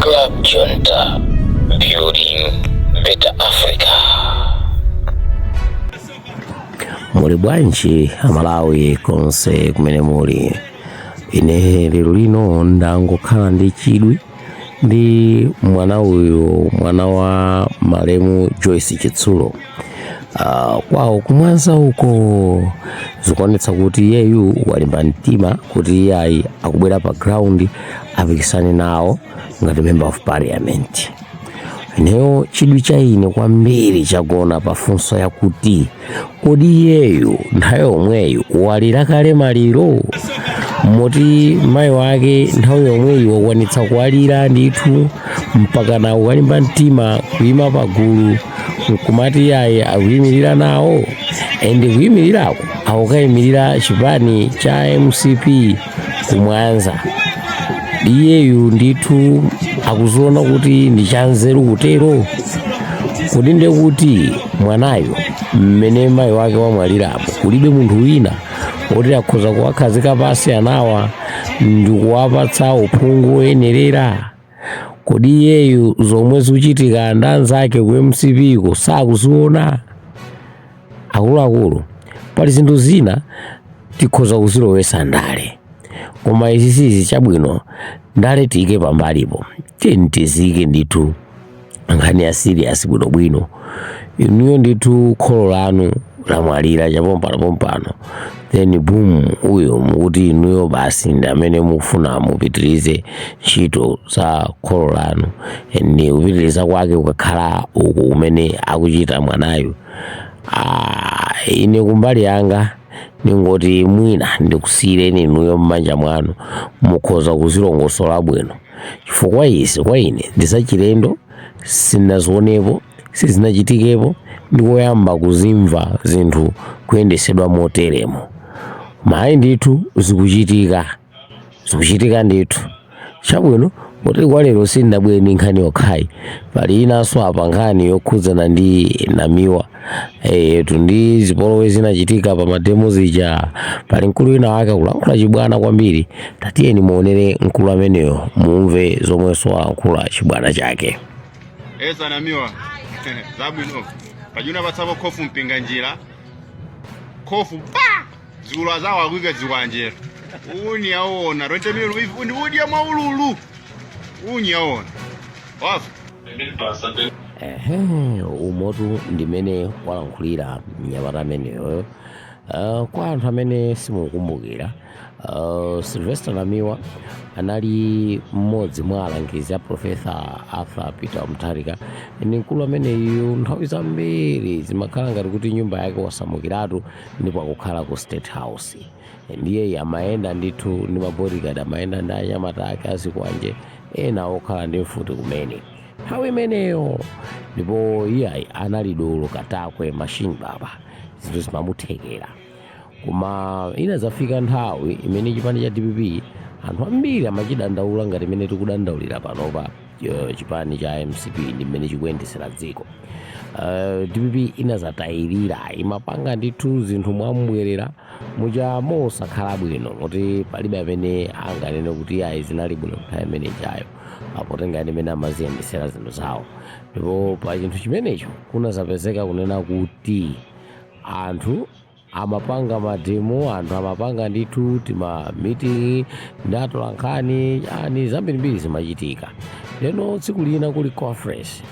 Club Junta, building better Africa. muli bwanji amalawi konse kumene muli ine lero lino ndangokhala ndi chidwi ndi mwana uyu mwana wa malemu joyce chitsulo Ah, kwawo kumwanza uko zikuonetsa kuti iyeyu walimba mtima kuti iye ayi akubwera pa ground apikisane nawo ngati member of parliament ineyo chidwi cha ine kwambiri chagona pa funso yakuti kodi iyeyu nthawi yomweyu walira kale maliro moti mayi wake nthawi yomweyi wakwanitsa kuwalira ndithu mpaka nawo walimba mtima kuyima pagulu nkumati iye ayi akuyimirira nawo and kuyimirirako akukayimirira chipani cha mcp kumwanza iyeyu ndithu akuziona kuti ndi chanzeru kutero kodi nde kuti mwanayo mmene mayi wake wamwalirapo kulibe munthu wina woti akhoza kuwakhazika pansi anawa ndikuwapatsa uphungu woyenerera kodi iyeyu zomwe zikuchitika ndi anzake ku mcp ko sakuziona akuluakulu pali zinthu zina tikhoza kuzilowesa ndale koma izi sizi chabwino ndale tiyike pambalipo tiyeni tiziyike ndithu nkhani ya serious bwinobwino inuyo ndithu kholo lanu lamwalira chapompano pompano then boom uyo mukuti inuyo basi ndi amene mufuna mupitirize ntchito za kholo lanu ndi kupitiriza kwake kukakhala uku kumene akuchita mwanayu Ah, ine kumbali yanga ndingoti mwina ndikusiyireni inuyo m'manja mwanu mukhoza kuzilongosola bwino chifukwa izi kwa ine ndi zachilendo sinazionepo sizinachitikepo ndikoyamba kuzimva zinthu kuyendesedwa moteremo mayi ndithu zikuchitika zikuchitika ndithu chabwino kuti kwa lero sindinabwere ndi nkhani yokhayi pali inanso apa nkhani yokhudzana ndi namiwa etu ndi zipolowe zinachitika pa mademo zija pali mkulu wina wake akulankhula chibwana kwambiri tatiyeni muonere mkulu ameneyo mumve zomwenso alankhula chibwana chake ase namiwa zabwino pajuna patsako khofu mpinga njira khofu pa zikulwa zawo akuika zikwanje unyaona 20 million uyu ndi udya mwaulule unyaona Wafu. Ehe, umotu ndimene walankhulira mnyamata ameneyo uh, kwa anthu amene simukumbukira uh, Sylvester Namiwa anali mmodzi mwa alangizi a Profesa Arthur Peter Mutharika ndi mkulu ameneyu nthawi zambiri zimakhala ngati kuti nyumba yake wasamukiratu ndipo akukhala ku State House ndiye amayenda ndithu ndi mabodyguard amayenda ndi anyamata ake azikwanje ena okhala ndi mfuti kumene nthawi imeneyo ndipo iyeyo anali dolo katakwe machine baba zinthu zimamuthekera koma inadzafika nthawi imene chipani cha dpp anthu ambiri amachidandaula ngati mmene tikudandaulira panopa eh, chipani cha mcp ndi mmene chikuyendetsera dziko Eh, dpp inadzatayirira imapanga ndithu zinthu mwambwerera muja mosakhala bwino moti palibe amene anganene kuti ayi zinali bwino nthawi imene ijayo potengera mmene amaziyendesera zinthu zawo ndipo pa chinthu chimenecho kunazapezeka kunena kuti anthu amapanga mademo anthu amapanga ndithu timamitingi ndi atola nkhani ani zambirimbiri zimachitika ndeno tsiku lina kuli conference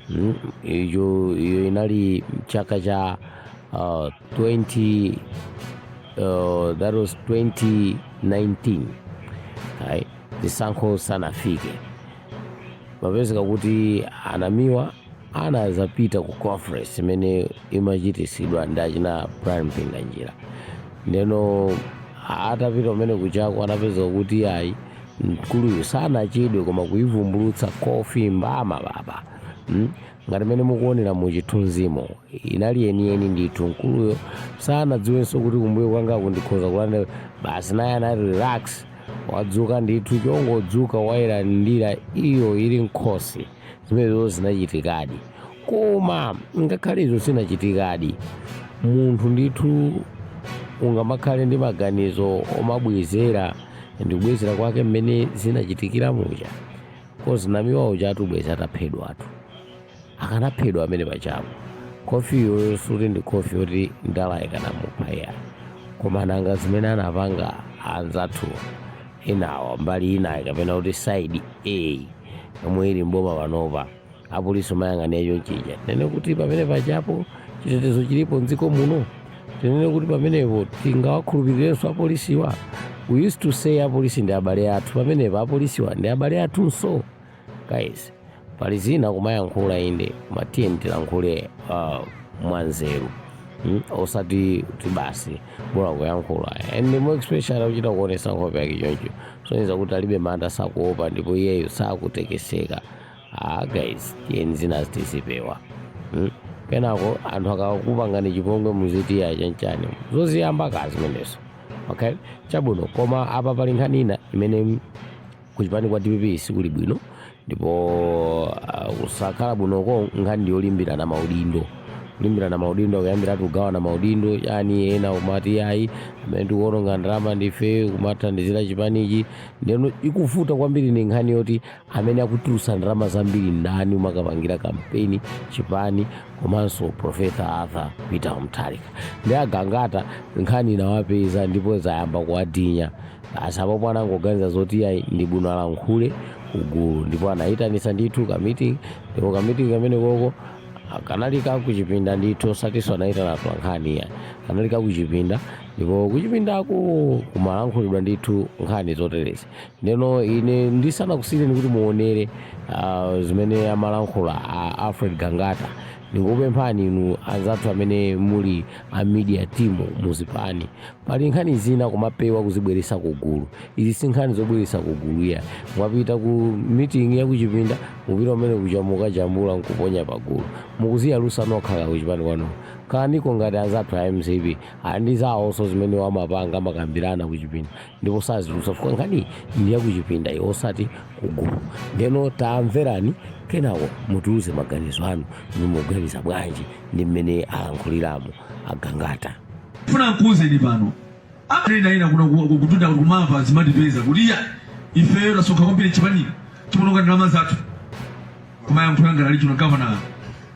Mm, iyo iyo inali chaka cha uh, 20 uh, that was 2019 right? zisankho zisanafike kunapezeka kuti anamiwa anazapita ku conference imene imachitisidwa ndi achina brian mpinganjira ndeno atapita kumene kujako anapezeka kuti ayi mkuluyu sanachedwe koma kuivumbulutsa khofi mbama baba mm? ngati mmene mukuonera mu chithunzimo inali yeniyeni ndithu mkuluyo sanadziwenso kuti kumbuyo kwanga kundikhoza kulande basi naye anati relax wadzuka ndithu chongodzuka wayilandira iyo ili nkhosi zimenezo zinachitikadi Koma ngakhale izo zinachitikadi, munthu ndithu ungamakhale ndi maganizo omabwezera ndi kubwezera kwake mmene zinachitikira muja kozi namiwa uja atabweza ataphedwatu akanaphedwa amene pajapo khofi iyoyo sikuti ndi khofi yoti ndale ikanamupha iyayi koma nanga zimene anapanga anzathu enawa mbali inayi kapena kuti side yomwe ili mboma panopa apolisi kumayang'anira chonchija tinene kuti pamene pajapo chitetezo chilipo mdziko muno tinene kuti pamenepo tingawakhulupirirenso apolisiwa we used to say apolisi ndi abale athu pamenepo apolisiwa ndi abale athunso guys pali zina kumayankhula inde koma tiyeni tilankhule uh, mwanzeru Mm, osati kuti basi bora kuyankhula and more especially kuchita kuonesa nkhope yake choncho kusonyeza kuti alibe mantha sakuopa ndipo iyeyo sakutekeseka ah guys tiyeni zina zitizipewa hmm? kenako anthu akakupangani chipongwe muziti iya chanchani zoziyamba kazimenezo okay chabwino koma apa pali nkhani ina imene kuchipani kwa dpp sikuli bwino ndipo ah, kusakhala bwinoko nkhani ndiyolimbirana maudindo kulimbirana maudindo ayambiratu kugawana maudindo yani ena kumati ayi amene tikuononga ndalama ndife kumathandizira chipanichi ndeno ikuvuta kwambiri ndi nkhani yoti amene akutulutsa ndalama zambiri ndani kumakapangira kampeni chipani komanso professor arthur peter mutharika ndi agangata nkhani inawapeza ndipo zayamba kuwadinya basi apopo anangoganiza zoti ayi ndi bwino alankhule kugulu ndipo anayitanisa ndithu kamiting ndipo kamiting kamene koko kanali kakuchipinda ndithu osatinso anayitana atolankhani iya kanali kakuchipinda ndipo kuchipindako kumalankhulidwa ndithu nkhani zoterezi Ndeno ine ndisanakusiyeni kuti muonere ah, zimene amalankhula a Alfred Gangata ndikupemphani inu anzathu amene muli a media team muzipani pali nkhani zina kumapewa kuzibweresa kugulu izi si nkhani zobweresa kugulu iya mwapita ku meeting ya kuchipinda kupita komwe kuja mukajambula nkuponya pagulu mukuziyalusa nokha ka kuchipani kwanu ikaniko ngati anzathu a mcp ali ndi zawonso zimene amapanga amakambirana kuchipinda ndipo sazitulutsa chifukwa nkhani ndi yakuchipinda iyo osati kugulu ndeno tamverani kenako mutiuze maganizo anu mukuganiza bwanji ndi mmene alankhuliramo agangata funa nkuuzeni pano amanena ena kuno ku- ku- kutunda kuti kumava zimatipeza kuti iya ifeyo tasonkha kwambiri chipani tikuononga ndalama zathu kumayankhula ngati ali chino gavana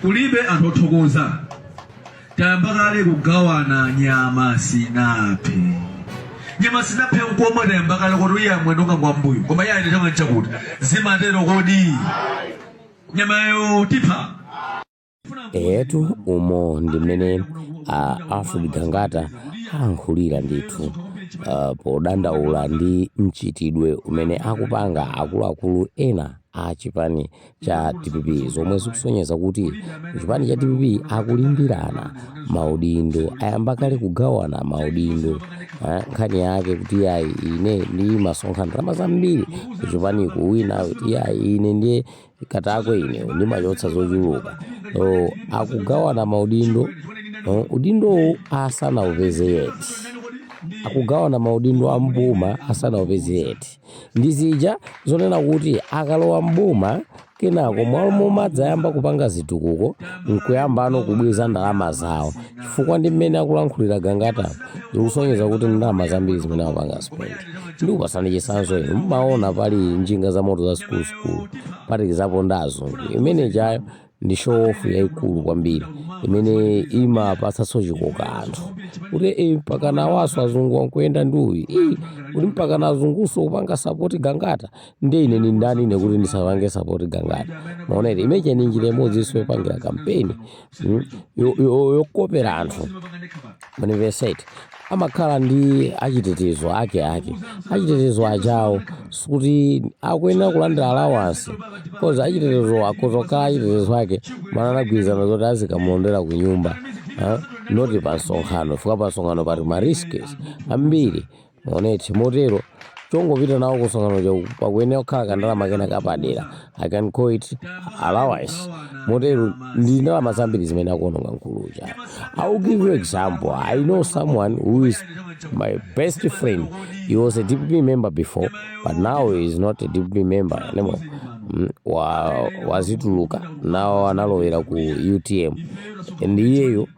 kulibe anthu othokoza tayamba kale kugawana nyama sinaphe nyama sinaphe koma tayamba kale kuti uyu wa mwendo wanga wambuyo koma iye ayenetanga nchakuti zimatero kodi nyamayo tipha eyetu umo ndi mmene a alfred gangata alankhulira ndithu uh, podandaula ndi mchitidwe umene akupanga akuluakulu ena a chipani cha dpp zomwe zikusonyeza kuti chipani cha dpp akulimbirana maudindo ayamba kale kugawana maudindo eh, nkhani yake kuti yayi ine ndimasonkha ndalama zambiri kuchipaniku wina kuti yayi ine ndiye Katakwe ine ndimachotsa zochuluka oh, akugawana maudindo oh, udindowo asanaupeze yeti akugawana maudindo a mboma asanaupeze yeti ndi zija zonena kuti akalowa mboma kenako mmalo momadzayamba kupanga zitukuko nkuyambano kubweza ndalama zawo chifukwa ndi mmene akulankhulira gangata zikusonyeza kuti ndalama zambiri zimene akupanga spend ndikupasani chisanzo inu mmaona pali njinga za moto za zikuluzikulu kuphatikizapo ndi azungu chimenechoyo ndi showofu yayikulu kwambiri imene imapatsanso chikoka anthu kuti e, mpaka nawaso azungu akuyenda ndi uyu ii kuti mpaka na azunguso kupanga sapoti gangata ndi ine ni ndani ine kuti ndisapange sapoti gangata mwaona imeneyo ni njira imodzinso yopangira kampeni mm, yo- yo- yokopera anthu mwayiwonatu amakhala ndi achitetezo ake ake achitetezo achawo sikuti akuyenera kulandira alawansi coz achitetezo akhoza kukhala achitetezo ake maana anagwirizana zoti azikamulondera ku nyumba ah, noti pa msonkhano chifukwa pa msonkhano pati mariskes ambiri Mwaonatu, Motero, chongopita nawo kumsonkhanoko pakuyenera kukhala kandalama kena kapadera. I can call it allowance. Motero, ndi ndalama zambiri zimene akuononga mkulu uja. I will give you example. I know someone who is my best friend. He was a DPP member before, but now he is not a DPP member anymore. Mm, wa- wazituluka nawo analowera ku utm and iyeyo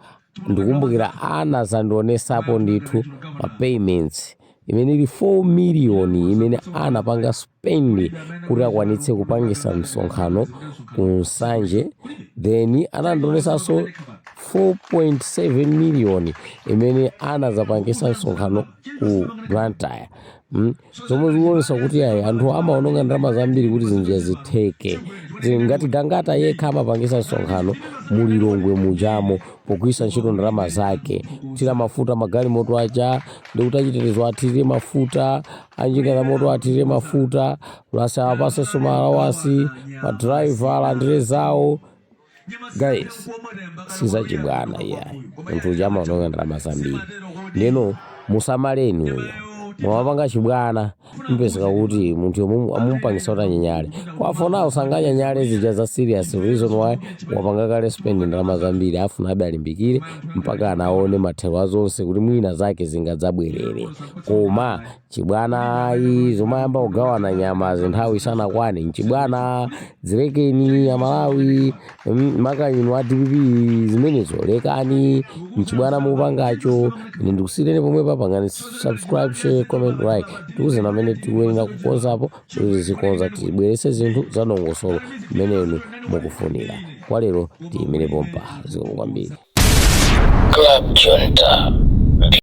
ndikumbukira anazandionesapo ndithu ma payments imene ili 4 million imene anapanga spend kuti akwanitse kupangisa msonkhano ku nsanje then anandionesanso 4.7 million imene anazapangisa msonkhano ku blantyre mm? zomwe zikuonesa kuti ayi anthu amaononga ndalama zambiri kuti zinthu zitheke ngati gangata yekha amapangisa msonkhano mu lilongwe mujamo pogwirisa ntchito ndalama zake kuthira mafuta magalimoto aja ndikuti achitetezo athirire mafuta a njinga zamoto athirire mafuta plus awapasenso maalawasi madraiva alandire zawo guys sizachibwana iyayi munthu uja amaononga ndalama zambiri ndeno musamaleni uyu mumapanga chibwana mpezeka kuti munthuyo mumupangisa kuti anyanyale kafuna sanganyanyale zija za serious reason why wapanga kale spend ndalama zambiri afunabe alimbikire mpaka anaone mathero azonse kuti mwina zake zingadzabwerere koma chibwana ayi zomayamba kugawana nyama nthawi isanakwane nchibwana zilekeni amalawi mm, makaka inu a dpp zimenezo lekani nchibwana mukupangacho ine ndikusiyireni pomwe papangani subscribe share comment like tiuzeni pamene tikuyenera kukonzapo kuti tizikonza tibwerese zinthu za dongosolo mmenenu mukufunira kwa lero tiyimire pompa zikomo kwambiri Club Junta.